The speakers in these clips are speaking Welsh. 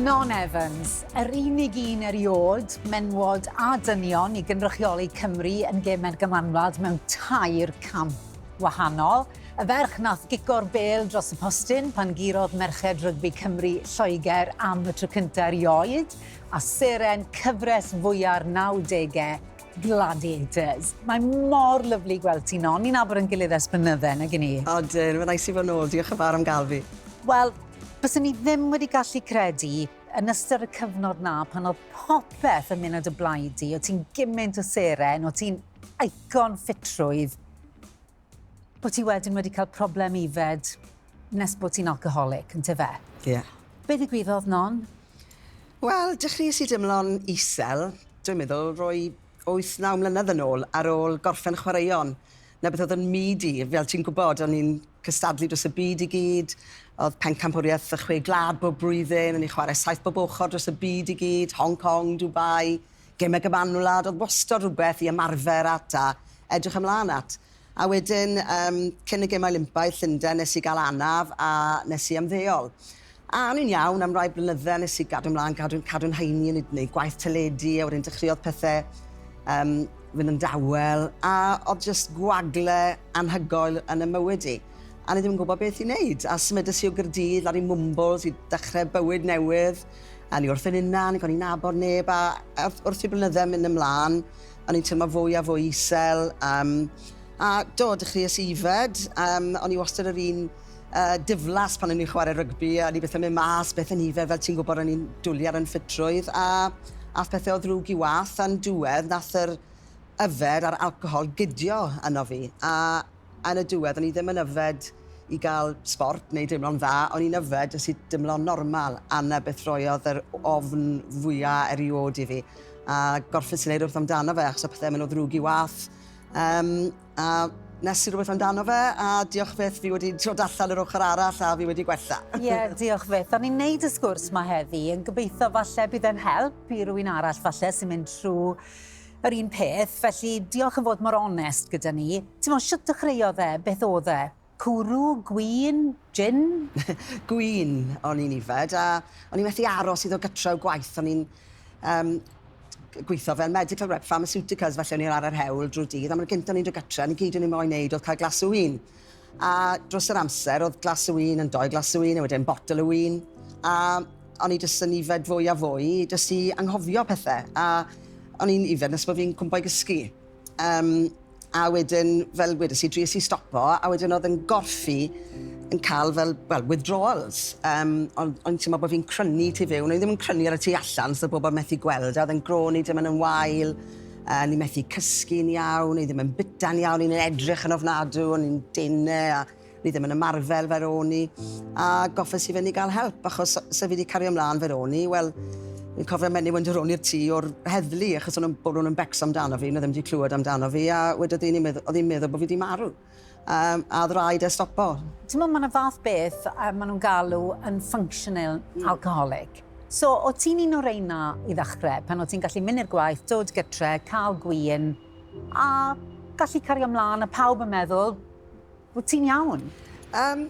Non Evans, yr unig un eriod, menwod a dynion i gynrychioli Cymru yn gemau'r gymanwlad mewn tair camp wahanol. Y ferch nath gico'r bel dros y postyn pan gurodd merched rygbi Cymru Lloegr am y tro cyntaf erioed, a seren cyfres fwya'r 90au Gladiators. Mae mor lyflu gweld ti, Non. Ni'n abod yn gilydd ers blynydde, nag i ni? Odyn, mae'n neis i fod nôl, diolch yn fawr am gael fi. Wel, byswn i ddim wedi gallu credu yn ystod y cyfnod 'na pan oedd popeth yn mynd o dy blaid di, o' ti'n gymint o seren, o' ti'n icon ffitrwydd. Bo ti wedyn wedi cael problem yfed nes bo ti'n alcoholic, ynte fe? Ie. Be ddigwyddodd non? Wel, dechreuais i deimlo'n isel, dwi'n meddwl roi wyth, naw mlynedd yn ôl, ar ôl gorffen chwaraeon. Na beth oedd yn myd i, fel ti'n gwybod, o'n i'n cystadlu dros y byd i gyd, oedd pencampwriaeth y chwe gwlad bob blwyddyn, o'n i'n chwarae saith bob ochr dros y byd i gyd, Hong Kong, Dubai, Gemau cyfamwlad oedd wastod rhywbeth i ymarfer at a edrych ymlaen at. A wedyn, yym, cyn y Gemau Olympaidd Llundain nes i gael anaf a nes i ymddeol. A o'n i'n iawn am rai blynydde a nes i gadw ymlaen, gadw, cadw'n nhaeni, o'n i 'di neud gwaith teledu a wedyn dechreuodd pethe yym fynd yn dawel a oedd jyst gwagle anhygoel yn 'y mywyd i. A o'n i ddim yn gwybod beth i neud a symudes i o Gaerdydd lawr i Mwmbwls i dechre bywyd newydd. O'n i wrth fy hunan ac o'n i'n nabod neb a wrth wrth i blynydde mynd ymlan o'n i'n teimlo fwy a fwy isel um, a do dechreuais i ifed um, o'n i wastad yr un uh, diflas pan o'n i'n chwarae rygbi a o'n i byth yn mynd mas beth yn ifed fel ti'n gwybod o'n i'n dwlu ar yn ffitrwydd a ath pethau o ddrwg i wath a'n diwedd nath yr yfed a'r alcohol gydio yno fi a Yn y diwedd o'n i ddim yn yfed i gael sbort neu deimlo'n dda, o'n i'n yfed jyst i dimlo'n normal a 'na beth roiodd yr ofn fwya' eriôd i fi a gorffes i neud rwbeth amdano fe achos o' pethe'n myn' o ddrwg i wath yym a nes i rwbeth amdano fe a diolch byth fi wedi dod allan yr ochor arall a fi wedi gwella. Ie diolch fyth. O'n i'n neud y sgwrs 'ma heddi yn gobeitho falle bydd e'n help i rywun arall falle sy'n mynd trw Yr un peth, felly diolch am fod mor onest gyda ni. T'mo' shwt dechreuodd e? Beth o'dd e? Cwrw? Gwin? Jin? Gwin o'n i'n yfed a o'n i methu aros i ddod gytre o gwaith. O'n i'n yym gweitho fel medical rep pharmaceuticals felly o'n i lawr ar hewl drwy'r dydd a 'ma'r gynta o'n i'n dod gytre a 'na gyd o'n i moyn neud o'dd ca'l glas o win. A dros yr amser oedd glas o win yn dou glas o win a wedyn botel o win a o'n i jyst yn yfed fwy a fwy jyst i anghofio pethe a o'n i'n yfed nes bod fi'n cwmpo i gysgu. Um, a wedyn, fel wedes i, dries i stopo, a wedyn oedd yn gorffi yn cael fel, well, withdrawals. Um, ond o'n i'n teimlo bod fi'n crynu tu fewn, o'n i ddim yn crynu ar y tu allan, so pobl methu gweld, a oedd yn gro ni ddim yn yn wael. A o'n i methu cysgu'n iawn, o'n i ddim yn byta'n iawn, o'n i'n edrych yn ofnadw, o'n i'n dene a o'n i ddim yn ymarfer fel o'n i. A goffes i fynd i gael help achos se fi wedi cario ymlaen fel o'n i, wel, fi'n cofio menyw yn dod rown i'r tŷ o'r heddlu achos o'n nhw'n bod nhw'n yn becso amdano fi, nhw ddim wedi clywed amdano fi a wedodd un i mi, oedd hi'n meddwl bod fi wedi marw. um, a oedd rhaid e stopo. Ti'n meddwl, mae'n fath beth uh, maen nhw'n galw yn functional mm. alcoholic. So, o ti'n un o'r reina i ddechrau, pan o ti'n gallu mynd i'r gwaith, dod gytre, cael gwyn, a gallu cario ymlaen, a pawb yn meddwl, o ti'n iawn? Um,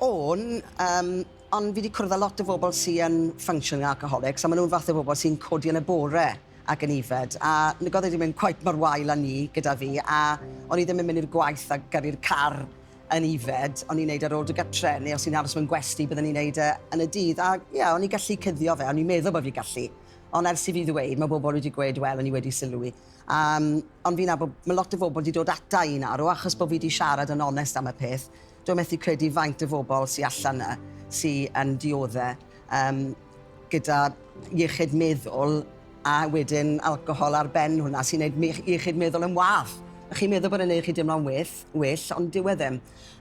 o'n, um, ond fi wedi cwrdd â lot o bobl sy'n functional alcoholics, a maen nhw'n fath o bobl sy'n codi yn y bore. ac yn yfed, a nagodd e ddim yn cweit mor wael â ni gyda fi, a o'n i ddim yn mynd i'r gwaith a gyrru'r car yn yfed, o'n i'n neud e ar ôl do gytre, neu os o'n i'n aros mewn gwesty bydden i'n neud e yn y dydd, a ie, o'n i'n gallu cuddio fe, o'n i'n meddwl bod fi'n gallu, ond ers i fi ddweud, mae bobl wedi gweud, wel, o'n i wedi sylwi, yym, ond fi'n nabod, mae lot o bobl wedi dod ata i, naddo, achos bod fi wedi siarad yn onest am y peth, Dw i methu credu faint o fobl sy allan 'na sy yn diodde' yym gyda iechyd meddwl a wedyn alcohol ar ben hwnna sy'n neud mych- iechyd meddwl yn wath. Chi'n meddwl bod e'n neud chi deimlo'n well, well ond dyw e ddim.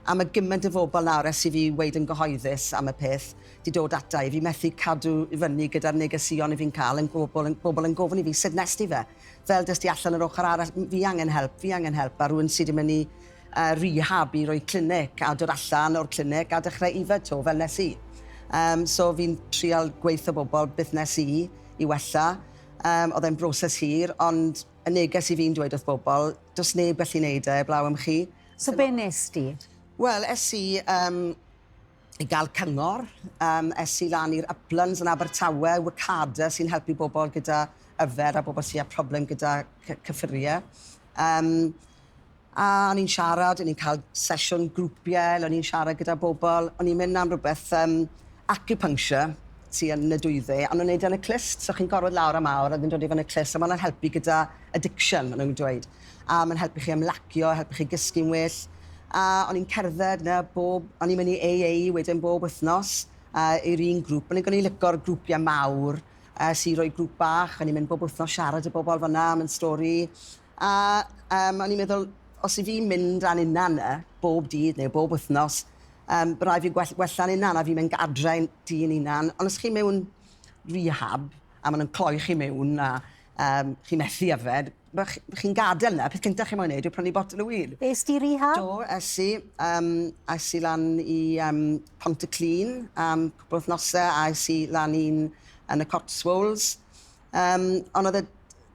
A ma' gyment o fobl nawr ers i fi weud yn gyhoeddus am y peth 'di dod ata i, fi methu cadw i fyny gyda'r negeseuon 'yf fi'n ca'l yn gwobl yn bobl yn gofyn i fi 'sut nest ti fe? Fel dest ti allan yr ochr arall? M- fi angen help, fi angen help a rywun sy 'di myn' i a rehab i roi clinic a dod allan o'r clinic a dechrau yfed to fel nes i. Um, so fi'n trial gweithio bobl beth nes i i wella. Um, oedd e'n broses hir, ond y neges i fi'n dweud wrth bobl, does neb gallu neud e, blaw am chi. So be nes di? Wel, es i um, i gael cyngor, um, es i lan i'r Uplands yn Abertawe, Wicada sy'n helpu bobl gyda yfed a bobl sy'n â problem gyda cyffuriau. Um, A o'n i'n siarad, o'n i'n cael sesiwn grwpiau le o'n i'n siarad gyda bobl, o'n i'n mynd am rywbeth yym acupuncture sy yn y dwyfe, a o'n nhw'n neud e yn y clust, so chi'n gorwedd lawr am awr a wedyn dod i fyny'r clust, a ma' hwnna'n helpu gyda addiction ma' nhw'n dweud, a ma'n helpu chi ymlacio, helpu chi gysgu'n well, a o'n i'n cerdded 'na bob, o'n i'n mynd i AA wedyn bob wythnos yy i'r un grŵp, o'n i'n o'n i'n lico'r grwpiau mawr, es i roi grŵp bach, o'n i'n mynd bob wythnos siarad i bobl fan'na am 'yn stori, A yym o'n i'n meddwl os 'yf fi'n mynd â'n hunan 'na bob dydd neu bob wythnos yym by' rai' fi gwell- wella'n hunan a fi'n mynd gadre i'n tŷ i'n hunan on' os chi mewn rehab a ma' nw'n cloi chi mewn a yym chi methu yfed by' ch- by' chi'n gadel 'na peth cynta chi moyn neud yw prynu botel o win. Es di rehab? Do es i yym es i lan i yym Pont-y-clun am cwpwl o wthnose a es i lan un yn y Cotswolds yym on' o'dd y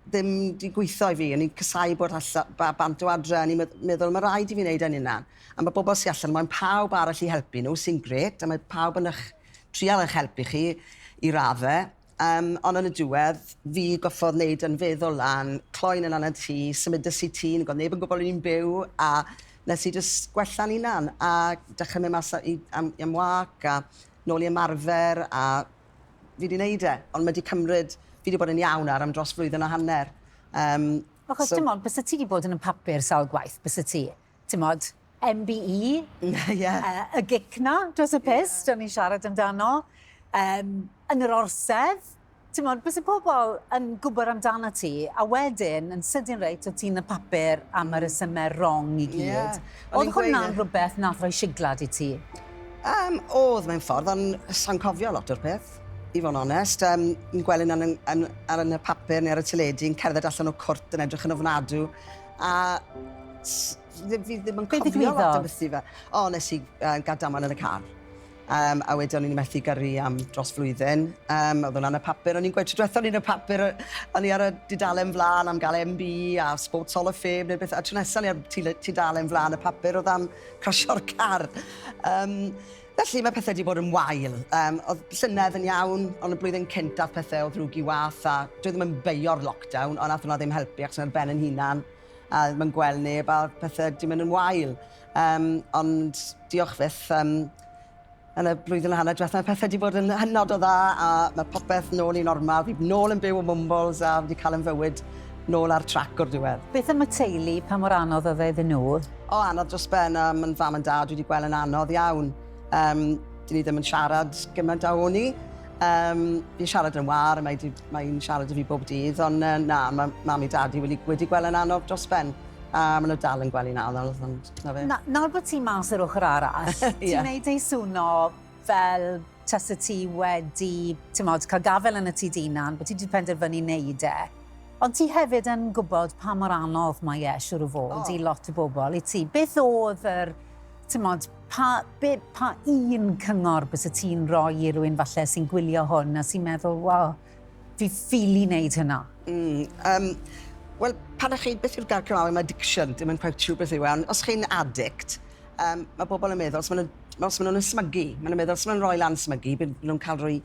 ddim 'di gwitho i fi. O'n i'n casau bod allan, ba- bant o adre, o'n i'n medd- meddwl ma' raid i fi neud e'n unan. A ma' bobol sy allan, mae'n pawb arall i helpu nhw, sy'n grêt, a mae pawb yn ych trial ych helpu chi i radde. Yym, ond yn y diwedd, fi goffodd neud yn feddwl lan, cloi'n unan yn tŷ, symudes i tŷ, nag o'dd neb yn gwbo o'n i'n byw, a nes i jys gwella'n unan, a dechre myn' mas a i am i am wâc, a nôl i ymarfer, a Fi 'di neud e, ond ma' 'di cymryd... Fi 'di bod yn iawn ar am dros flwyddyn a hanner. Yym, so... Achos t'mod, byse ti 'di bod yn y papur sawl gwaith, byse ti? T'mod, MBE? Ie. Yy, y gic 'na dros y pys, o'n ni'n siarad amdano, yym, yn yr orsedd. T'mod, byse pobol yn gwbod amdanat ti, a wedyn, yn sydyn reit, o' ti'n y papur am y resyme rong i gyd. Ie. O'dd hwnna'n rwbeth nath roi siglad i ti? Um, oedd mewn ffordd, ond sa'n cofio lot o'r peth, i fod yn onest. Um, yn gweld yn, yn, yn, ar yn y papur neu ar y teledu, yn cerdded allan o cwrt yn edrych yn ofnadw. A fi ddim yn cofio lot o beth i fe. O, nes i uh, gael damon yn y car. Um, a wedyn o'n i'n methu gyrru am dros flwyddyn. Um, oedd hwnna'n y papur. O'n i'n gweud, trwy o'n i'n y papur, o'n i ar y dudalen flaen am gael MB a Sports Hall of Fame neu beth. A trwy nesaf o'n i ar tudalen flaen y papur oedd am cosio'r car. Um, felly mae pethau wedi bod yn wael. Um, oedd llynedd yn iawn, ond y blwyddyn cynt ath pethau o ddrwg i wath, a dwi ddim yn beio'r lockdown, ond nath hwnna ddim helpu, ac sy'n ben yn hunan, a ddim yn gweld neb, a pethau wedi mynd yn wael. Um, ond diolch fyth, um, Yn y blwyddyn a hanner dwetha pethe 'di bod yn hynod o dda a ma' popeth nôl i normal. Fi nôl yn byw ym Mwmbwls a fi 'di ca'l 'yn fywyd nôl ar trac o'r diwedd. Beth am y teulu, pa mor anodd oedd e iddyn nhw? O, anodd dros ben a ma'n fam and dad dwi 'di gwel' yn anodd iawn. Yym, 'dyn ni ddim yn siarad gyment a o'n i. Yym, fi'n siarad yn wâr a mae 'di, mae 'i'n siarad 'da fi bob dydd on' yy na, ma' mam i dad i wedi wedi gwel' yn anodd dros ben. A maen nhw dal yn gwely nawr, nawr oedd ond, na fe. Na, nawr bod ti mas yr ochr arall, yeah. ti'n gwneud ei swno fel tas y ti wedi, ti'n modd, cael gafel yn y ti dynan, bod ti wedi penderfynu wneud e. Ond ti hefyd yn gwybod pa mor anodd mae e, siwr o fod, oh. i lot o bobl, i ti. Beth oedd yr, ti'n modd, pa, be, pa un cyngor bys y ti'n rhoi i rwy'n falle sy'n gwylio hwn a sy'n meddwl, wow, Fi ffili wneud hynna. Mm, um, Wel, pan chi, beth yw'r gair Cymraeg am addiction? Dim yn cweit siŵr beth yw e, ond os chi'n addict, um, mae bobl yn meddwl, os maen nhw'n nhw smygu, maen nhw'n meddwl, os maen nhw'n rhoi lan smygu, byd nhw'n cael rhoi,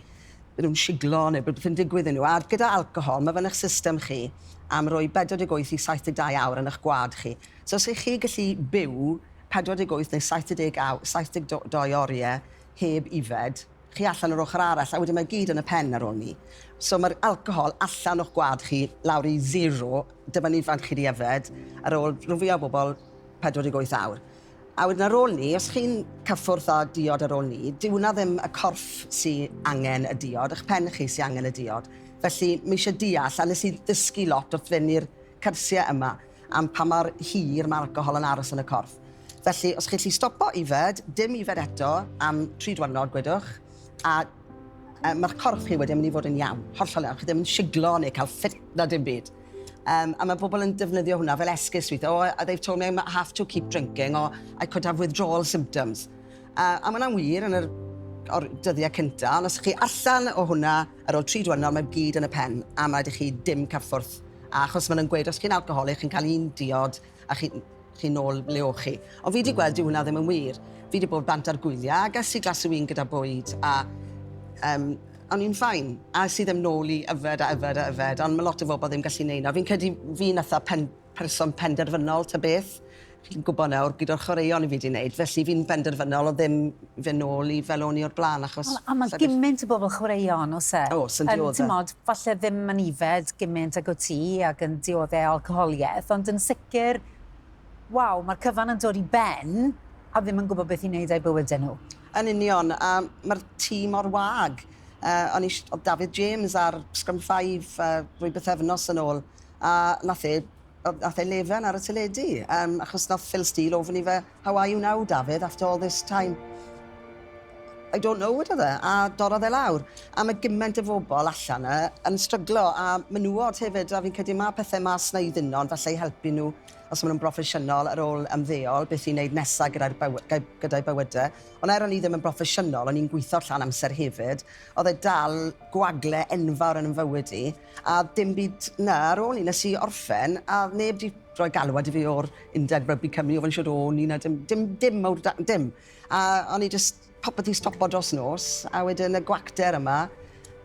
byd nhw'n siglo neu byd nhw'n digwydd yn nhw. A gyda alcohol, mae fan eich system chi am roi 48 i 72 awr yn eich gwad chi. So os ych chi gallu byw 48 neu 72, 72 oriau heb ifed, chi allan yr ochr arall a wedyn mae gyd yn y pen ar ôl 'ny. So ma'r alcohol allan o'ch gwad chi lawr i zero, dyma'n ifanc chi 'di yfed ar ôl rhan fwya o bobol 48 awr. A wedyn ar ôl 'ny, os chi'n cyffwrdd â diod ar ôl 'ny, dyw wnna ddim y corff sy angen y diod, 'ych pen chi sy angen y diod. Felly, ma' isie deall, a nes i ddysgu lot wrth fynd i'r cyrsiau yma am pa mor hir mae alcohol yn aros yn y corff. Felly, os chi'n gallu stopo yfed, dim yfed eto am tri diwrnod, gwedwch, a um, mae'ch corff chi wedyn yn mynd i fod yn iawn, hollol iawn. Chi ddim yn siglo neu cael ffit na dim byd. Um, a mae pobl yn defnyddio hwnna fel esgus weithio. Oh, they've told me I have to keep drinking or I could have withdrawal symptoms. Uh, a mae'n wir yn yr o'r dyddiau cyntaf, ond os chi allan o hwnna, Ar ol tri dwyrnod mae gyd yn y pen am raid i chi dim carthwrth a achos ma nhw'n gweud os chi'n alcoholic chi'n cael un diod a chi chi nol le o'ch chi ond fi di gweld dyw hwnna ddim yn wir fi di bod bant ar gwylia a ges i glas o win gyda bwyd a um, o'n i'n ffain a es i ddim nol i yfed a yfed a yfed ond ma lot o fobl ddim gallu neud na fi'n credu fi natha pen person penderfynol ta beth. Chi'n gwybod nawr, gyda'r chwaraeon i fi 'di wneud, felly fi'n benderfynol o ddim fyn' nôl i fel o'n i o'r bla'n achos... Wel, a ma' giment o bobl chwaraeon, o's e? O's, yn diodde'. Yn, t'mod, falle ddim yn yfed giment ag wt ti ac yn diodde' alcoholieth, ond yn sicr, waw, ma'r cyfan yn dod i ben a ddim yn gwybod beth i wneud â'u bywyde nhw. Yn union, a ma'r tîm mor wag. Yy, o'n i sh- o'dd David James ar scrum five yy rhwy bythefnos yn ôl. A nath e yy nath e lefen ar y teledu yym achos nath Phil Steele ofyn i fe how are you now Dafydd after all this time? I don't know wedodd e a dorrodd e lawr. A ma' giment o fobol allan 'na yn stryglo a menywod hefyd a fi'n credu ma' pethe ma' Sneud Unnon falle i helpu nhw os ma' nhw'n broffesiynol ar ôl ymddeol beth i neud nesa gyda'r byw- gy- gyda'u bywyde. Ond er o'n i ddim yn broffesiynol o'n i'n gwitho llawn amser hefyd o'dd e dal gwagle enfawr yn 'yn fywyd i. A dim byd na ar ôl 'ny nes i orffen a oedd neb 'di rhoi galwad i fi o'r undeb rygbi Cymru i ofyn shwd o'n i na dim dim dim mowr da- dim. A o'n i jyst popeth 'di stopo dros nos a wedyn y gwacter yma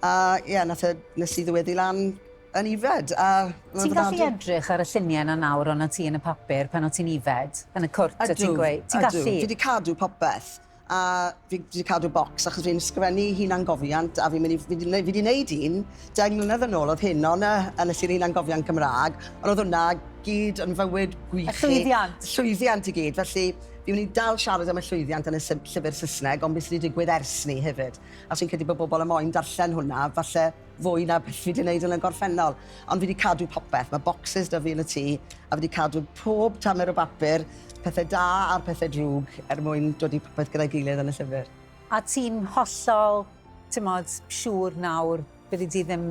a ie nath e nes i ddyweddu lan yn ifed a ma' Ti'n gallu edrych ar y llunie 'na nawr o' 'na ti yn y papur pan o' ti'n ifed yn y cwrt o' ti'n gweu- ti'n gallu? Ydw ydw fi 'di cadw popeth a fi 'di cadw bocs achos fi'n sgrifennu hunangofiant a fi'n mynd i... fi 'di fi 'di neud un deng mlynedd yn ôl o'dd hyn on' yy a nes i'r hunangofiant Cymra'g on' o'dd hwnna gyd yn fywyd gwych i... Y llwyddiant. Llwyddiant i gyd felly fi myn' i dal siarad am y llwyddiant yn y sy- llyfyr Sysneg on' be' sy' 'di digwydd ers 'ny hefyd a fi'n credu bo' bobol yn moyn darllen hwnna falle fwy na beth fi 'di neud yn y gorffennol. Ond fi 'di cadw popeth. Mae bocsys 'da fi yn y tŷ, a fi 'di cadw pob tamer o bapur, pethau da a'r pethau drwg, er mwyn dod i popeth gyda'i gilydd yn y llyfr. A ti'n hollol, t'mod, siŵr nawr byddi di ddim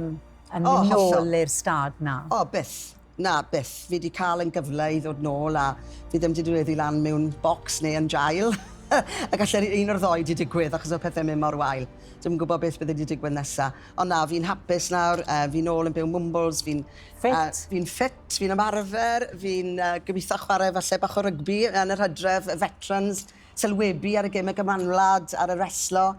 yn mynd nôl i'r stad 'na? O, byth. Na, byth. Fi 'di cael yn gyfle i ddod nôl a fi ddim 'di dweddu lan mewn bocs neu yn jail. A galle un o'r ddou 'di digwydd achos oedd pethe'n mynd mor wael. Dwi'm yn gwybod beth bydde 'di digwydd nesa. Ond na, fi'n hapus nawr, yy fi nôl yn byw Mwmbwls, fi'n... Ffit? ...yy fi'n ffit, fi'n ymarfer, fi'n yy gobitho chware falle bach o rygbi yn yr Hydref, y Veterans, sylwebu ar y geme gymanwlad, ar y reslo.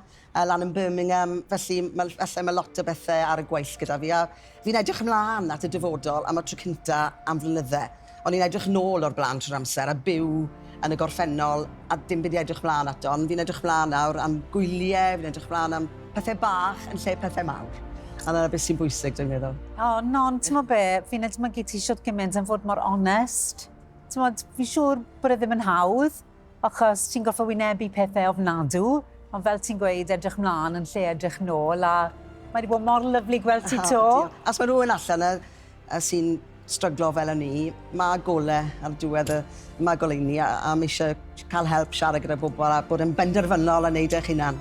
lan yn Birmingham, felly ma- falle ma' lot o bethe ar y gweill gyda fi, a fi'n edrych ymlan at y dyfodol am y tro cynta am flynydde. O'n i'n edrych nôl o'r bla'n trwy'r amser a byw yn y gorffennol a dim byd i edrych mlan ato, ond fi'n edrych mlan nawr am gwylie, fi'n edrych mlan am pethe bach yn lle pethe mawr, a 'na beth sy'n bwysig dwi'n meddwl. O, Non, t'mo' be', fi'n edmygu ti shwt giment am fod mor onest. T'mod, fi'n siŵr bod e ddim yn hawdd, Achos ti'n gorfod wynebu pethe ofnadw, ond fel ti'n gweud, edrych mlan yn lle edrych nôl, a mae 'di bod mor lyfli gweld ti 'to. Os mae rhywun allan 'na yy sy'n stryglo fel o'n i, ma' gole ar diwedd y ma' goleuni a a ma' isie ca'l help, siarad gyda pobol a bod yn benderfynol a neud eich hunan.